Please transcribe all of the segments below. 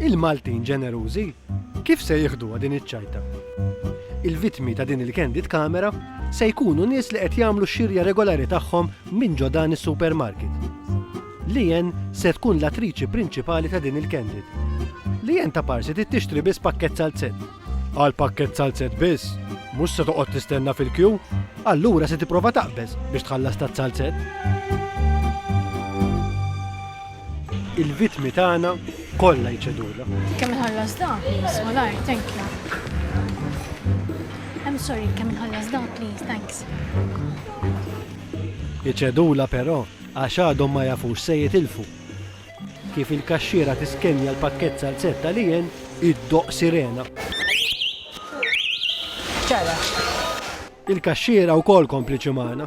Il-Maltin ġenerużi kif se jieħduha din iċ-ċajta? Il-vittmi ta' din il-candid camera se jkunu nies li qed jagħmlu x-xirja regolari tagħhom minn ġo dan is-supermarket. Lien se tkun l-attriċi prinċipali ta' din il-candid. Lien ta' parsi trid tixtri biss pakkett salzett. Għal pakkett salzett biss, mhux se toqgħod tistenna fil-kju, allura se tipprova taqbeż biex tħallas ta' salzett. Il-vittmi tagħna kollha jċedulha. Kemm inħallas dan, please, malajr, thank you. I'm sorry, kemm inħallas dan, please, thanks. Iċedula però għax għadhom ma jafux se jitilfu. Kif il-kaxxiera tiskenja l-pakket salzetta li jen id-doq sirena. Il-kaxxiera wkoll kompliċi magħna.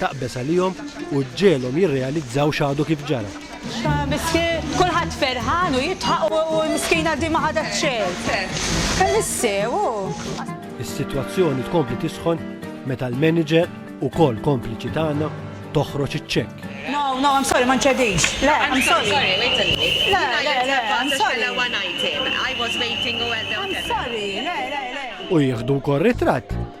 Taqbeż għalihom u ġġegħelhom jirrealizzaw x'għadu kif ġara. Miskien, kulħadd ferħan u jidħaq u l-miskina di ma ħadet xejn. Fil-sew hu. Is-sitwazzjoni tkompli tisħon meta l-manager, ukoll kompliċi tagħna, toħroġ iċ-ċekk. No, no, I'm sorry, ma nċedix. Le, I'm sorry. Le, le, le, I'm sorry. I'm sorry, le, le, le. U jieħdu wkoll ritratt